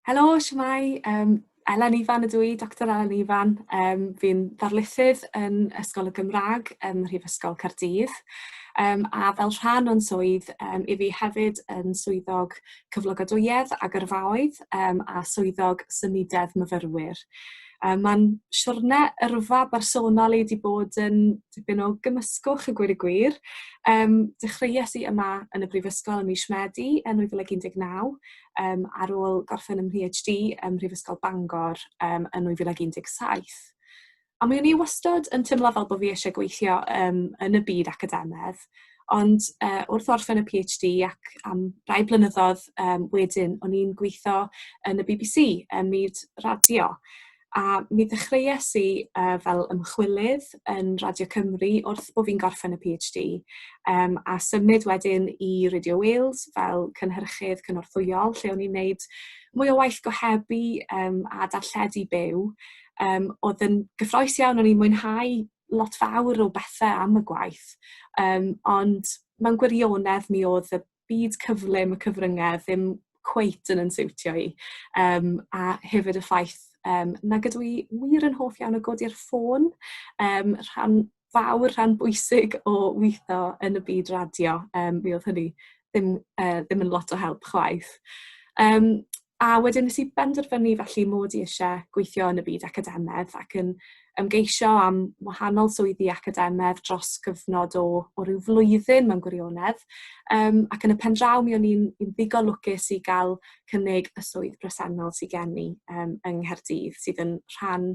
Helo, siwmai, um, Elen Ifan ydw i, Dr Elen Ifan. Um, fi'n ddarlithydd yn Ysgol y Gymraeg ym Mhrifysgol Caerdydd. Um, a fel rhan o'n swydd, um, i fi hefyd yn swyddog cyflogadwyedd a gyrfaoedd um, a swyddog symudedd myfyrwyr. Um, Mae'n siwrne yrfa bersonol i wedi bod yn dipyn o gymysgwch y gwir y gwir. Um, dechreuais i yma yn y Brifysgol ym mis Medi yn 2019 um, ar ôl gorffen ym PhD ym Mhrifysgol Bangor um, yn 2017. A mi o'n i wastad yn teimlo fel bod fi eisiau gweithio um, yn y byd academedd, ond uh, wrth orffen y PhD ac am rai blynyddoedd um, wedyn, o'n i'n gweithio yn y BBC, ym myd radio. A mi ddechreuais i uh, fel ymchwilydd yn Radio Cymru wrth bod fi'n gorffen y PhD, um, a symud wedyn i Radio Wales fel cynhyrchydd cynorthwyol, lle o'n i'n neud mwy o waith gohebu um, a darlledu byw. Um, oedd yn gyffroes iawn, o'n i'n mwynhau lot fawr o bethau am y gwaith, um, ond mewn gwirionedd mi oedd y byd cyflym y cyfryngau ddim cweit yn yn siwtio i. Um, a hefyd y ffaith um, na gydw i wir yn hoff iawn o godi'r ffôn, um, rhan fawr, rhan bwysig o weithio yn y byd radio. Um, mi oedd hynny ddim, uh, ddim yn lot o help chwaith. Um, A wedyn nes i benderfynu felly mod i eisiau gweithio yn y byd academaidd ac yn ymgeisio am wahanol swyddi academaidd dros gyfnod o, o ryw flwyddyn mewn gwirionedd. Um, ac yn y pen draw mi o'n i'n ddigon lwcus i gael cynnig y swydd bresennol sydd gen i um, yng Nghaerdydd sydd yn rhan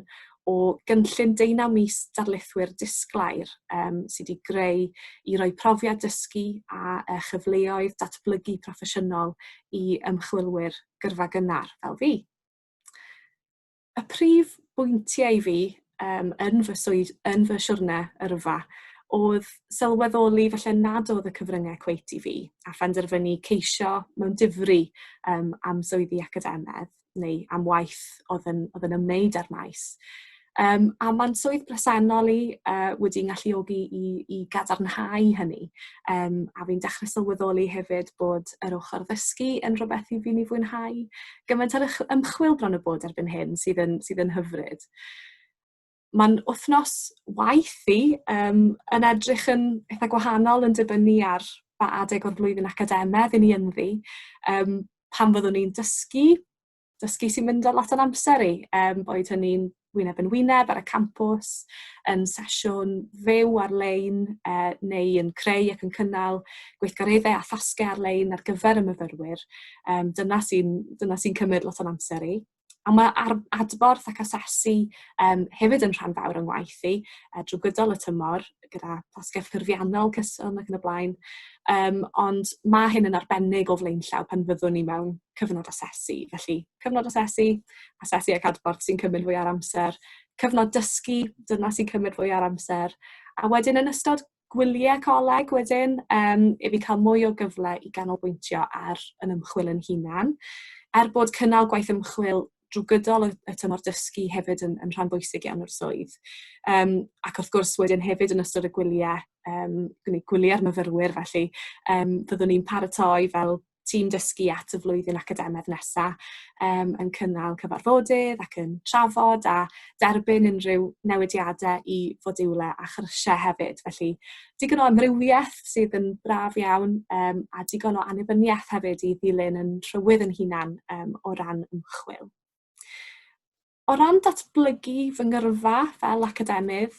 o gynllun deunaw mis darlithwyr disglair um, sydd wedi greu i roi profiad dysgu a uh, chyfleoedd datblygu proffesiynol i ymchwilwyr gyrfa gynnar fel fi. Y prif bwyntiau i fi um, yn, fy swyd, yn fy siwrne yrfa oedd sylweddoli felly nad oedd y cyfryngau cweit i fi a phenderfynu ceisio mewn difri um, am swyddi academedd. neu am waith oedd yn, oedd yn ymwneud â'r maes. Um, a mae'n swydd bresennol i uh, wedi ngalluogi i, i gadarnhau hynny. Um, a fi'n dechrau sylweddoli hefyd bod yr ochr ddysgu yn rhywbeth i fi'n ei fwynhau. Gymaint ar ymchwil bron y bod erbyn hyn sydd yn, sydd yn hyfryd. mae'n wythnos waith i, um, yn edrych yn eitha gwahanol yn dibynnu ar ba adeg o'r flwyddyn academedd i ni ynddi. Um, pan fyddwn ni'n dysgu, dysgu sy'n mynd o lot o'n amser i, um, boed hynny'n wyneb yn wyneb ar y campus, yn sesiwn fyw ar-lein eh, neu yn creu ac yn cynnal gweithgareddau a thasgau ar-lein ar gyfer y myfyrwyr. Um, dyna sy'n sy cymryd lot o'n amser i. Ond mae ar, adborth ac asesu um, hefyd yn rhan fawr o'n waith i, uh, drwy gydol y tymor, gyda tasgau ffurfiannol, cyson ac yn y blaen. Um, ond mae hyn yn arbennig o flaenllaw pan fyddwn ni mewn cyfnod asesu. Felly, cyfnod asesu, asesu ac adborth sy'n cymryd fwy ar amser, cyfnod dysgu, dyna sy'n cymryd fwy ar amser, a wedyn yn ystod gwyliau coleg wedyn um, i fi cael mwy o gyfle i ganolbwyntio ar yn ymchwil yn hunan. Er bod cynnal gwaith ymchwil drwy gydol y, y tymor dysgu hefyd yn, yn rhan bwysig iawn o'r swydd. Um, ac wrth gwrs wedyn hefyd yn ystod y gwyliau, um, gwneud gwyliau'r myfyrwyr felly, um, fyddwn ni'n paratoi fel tîm dysgu at y flwyddyn academaidd nesaf um, yn cynnal cyfarfodydd ac yn trafod a derbyn unrhyw newidiadau i fodiwlau a chyrsiau hefyd. Felly, digon o amrywiaeth sydd yn braf iawn um, a digon o annibyniaeth hefyd i ddilyn yn rhywydd yn hunan um, o ran ymchwil. O ran datblygu fy ngyrfa fel academydd,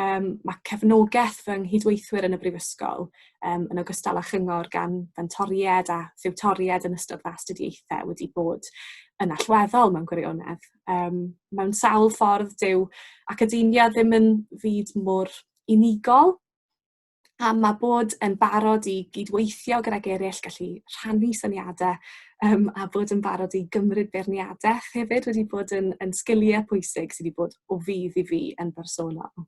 um, mae cefnogaeth fy nghydweithwyr yn y Brifysgol, um, yn ogystal â chyngor gan fentoried a thiwtoried yn ystod fy astudiaethau wedi bod yn allweddol mewn gwirionedd. Um, mewn sawl ffordd, dyw academia ddim yn fyd mor unigol, a mae bod yn barod i gydweithio gydag eraill, gallu rhannu syniadau um, a bod yn barod i gymryd beirniadaeth hefyd wedi bod yn, yn sgiliau pwysig sydd wedi bod o fydd i fi yn bersonol.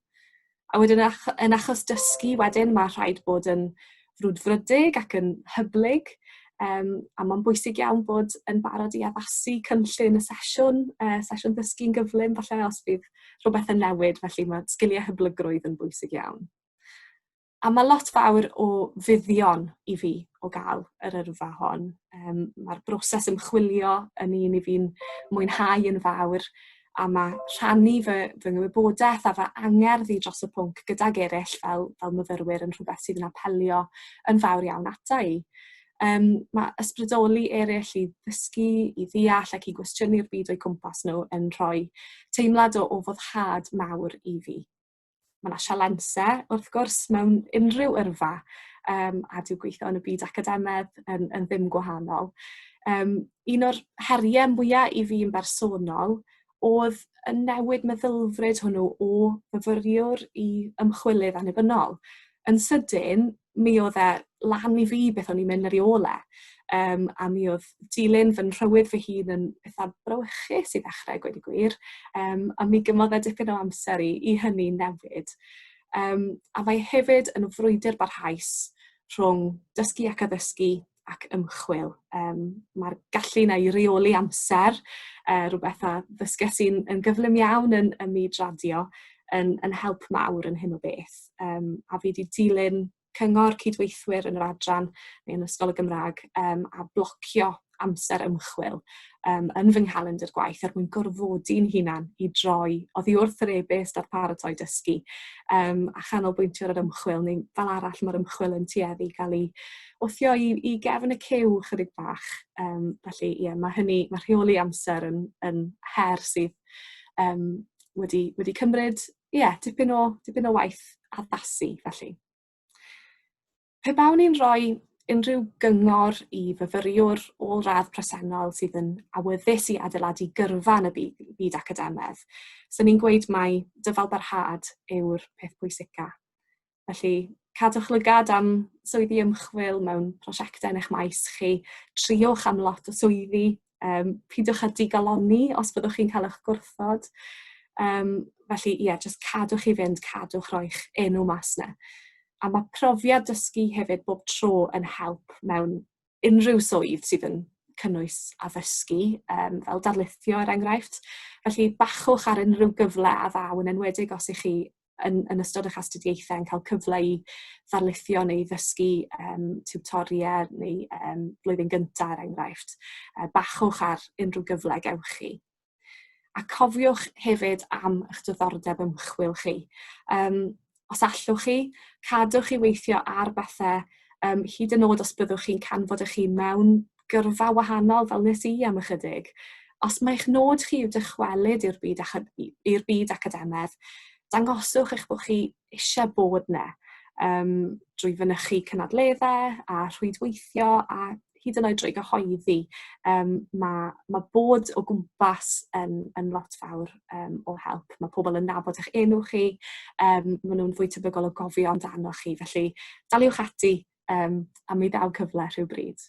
A wedyn ach yn achos dysgu wedyn mae rhaid bod yn frwdfrydig ac yn hyblyg um, a mae'n bwysig iawn bod yn barod i addasu cynllun y sesiwn, uh, sesiwn ddysgu'n gyflym falle os bydd rhywbeth yn newid felly mae sgiliau hyblygrwydd yn bwysig iawn. A mae lot fawr o fuddion i fi o gael yr yrfa hon. Yym ma'r broses ymchwilio yn un 'y fi'n mwynhau yn fawr a ma' rhannu fy fy ngwybodaeth a fy angerdd i dros y pwnc gydag eraill fel fel myfyrwyr yn rhywbeth sydd yn apelio yn fawr iawn ata i. Yym ma' ysbrydoli eraill i ddysgu, i ddeall ac i gwestiynu'r byd o'u cwmpas nhw yn rhoi teimlad o o foddhad mawr i fi. Mae yna sialensau, wrth gwrs, mewn unrhyw yrfa, yym, a dyw gweithio yn y byd academaidd yn yn ddim gwahanol. Yym, un o'r heriau mwya i fi yn bersonol oedd y newid meddylfryd hwnnw o fyfyriwr i ymchwilydd annibynnol. Yn sydyn, mi oedd e lan i fi beth o'n i'n mynd yr i ole. Um, a mi oedd dilyn fy nhrywyd fy hun yn pethau brawychus i ddechrau gweud y gwir. Um, a mi gymodd e dipyn o amser i, i hynny newid. Um, a mae hefyd yn frwydr barhaus rhwng dysgu ac addysgu ac ymchwil. Um, Mae'r gallu yna i reoli amser, uh, rhywbeth a ddysges i'n yn gyflym iawn yn, ym myd radio, yn, yn help mawr yn hyn o beth. Um, a fi wedi dilyn cyngor cydweithwyr yn yr adran neu yn Ysgol y Gymraeg um, a blocio amser ymchwil um, yn fy nghalendr gwaith er mwyn gorfodi'n hunan i droi oddi wrth yr e-byst a'r paratoi dysgu um, a chanolbwyntio ar yr ymchwil neu fel arall mae'r ymchwil yn tueddu i gael ei wthio i, i gefn y cyw chydig bach. Um, felly, ie, yeah, mae hynny, mae rheoli amser yn, yn her sydd um, wedi, wedi cymryd, ie, yeah, dipyn, o, dipyn o waith addasu, felly. Pe bawn ni'n rhoi unrhyw gyngor i fyfyriwr ôl radd presennol sydd yn awyddus i adeiladu gyrfa yn y byd, byd academedd, sy'n ni'n gweud mai dyfalbarhad yw'r peth pwysica. Felly, cadwch lygad am swyddi ymchwil mewn prosiectau yn eich maes chi, triwch am lot o swyddi, yym peidiwch â digalonni os byddwch chi'n cael eich gwrthod. Yym felly ie, jyst cadwch i fynd, cadwch roi'ch enw mas 'na. A mae profiad dysgu hefyd bob tro yn help mewn unrhyw swydd sydd yn cynnwys addysgu, yym fel darlithio er enghraifft. Felly bachwch ar unrhyw gyfle a ddaw, yn enwedig os 'y chi yn, yn ystod eich astudiaethau yn cael cyfle i ddarlithio neu ddysgu um, tutoriau neu um, blwyddyn gyntaf er enghraifft, uh, bachwch ar unrhyw gyfle gewch chi. A cofiwch hefyd am eich diddordeb ymchwil chi. Um, os allwch chi, cadwch chi weithio ar bethau um, hyd yn oed os byddwch chi'n canfod eich hun mewn gyrfa wahanol fel nes i am ychydig. Os mae eich nod chi yw dychwelyd i'r byd, i'r byd academaidd, dangoswch eich bod chi eisiau bod yna um, drwy fynychu cynadleddau a rhwydweithio a hyd yn oed drwy gyhoeddi, um, mae, mae bod o gwmpas yn, yn lot fawr um, o help. Mae pobl yn nabod eich enw chi, um, maen nhw'n fwy tebygol o gofio amdano chi, felly daliwch ati um, a mi ddaw cyfle rhyw bryd.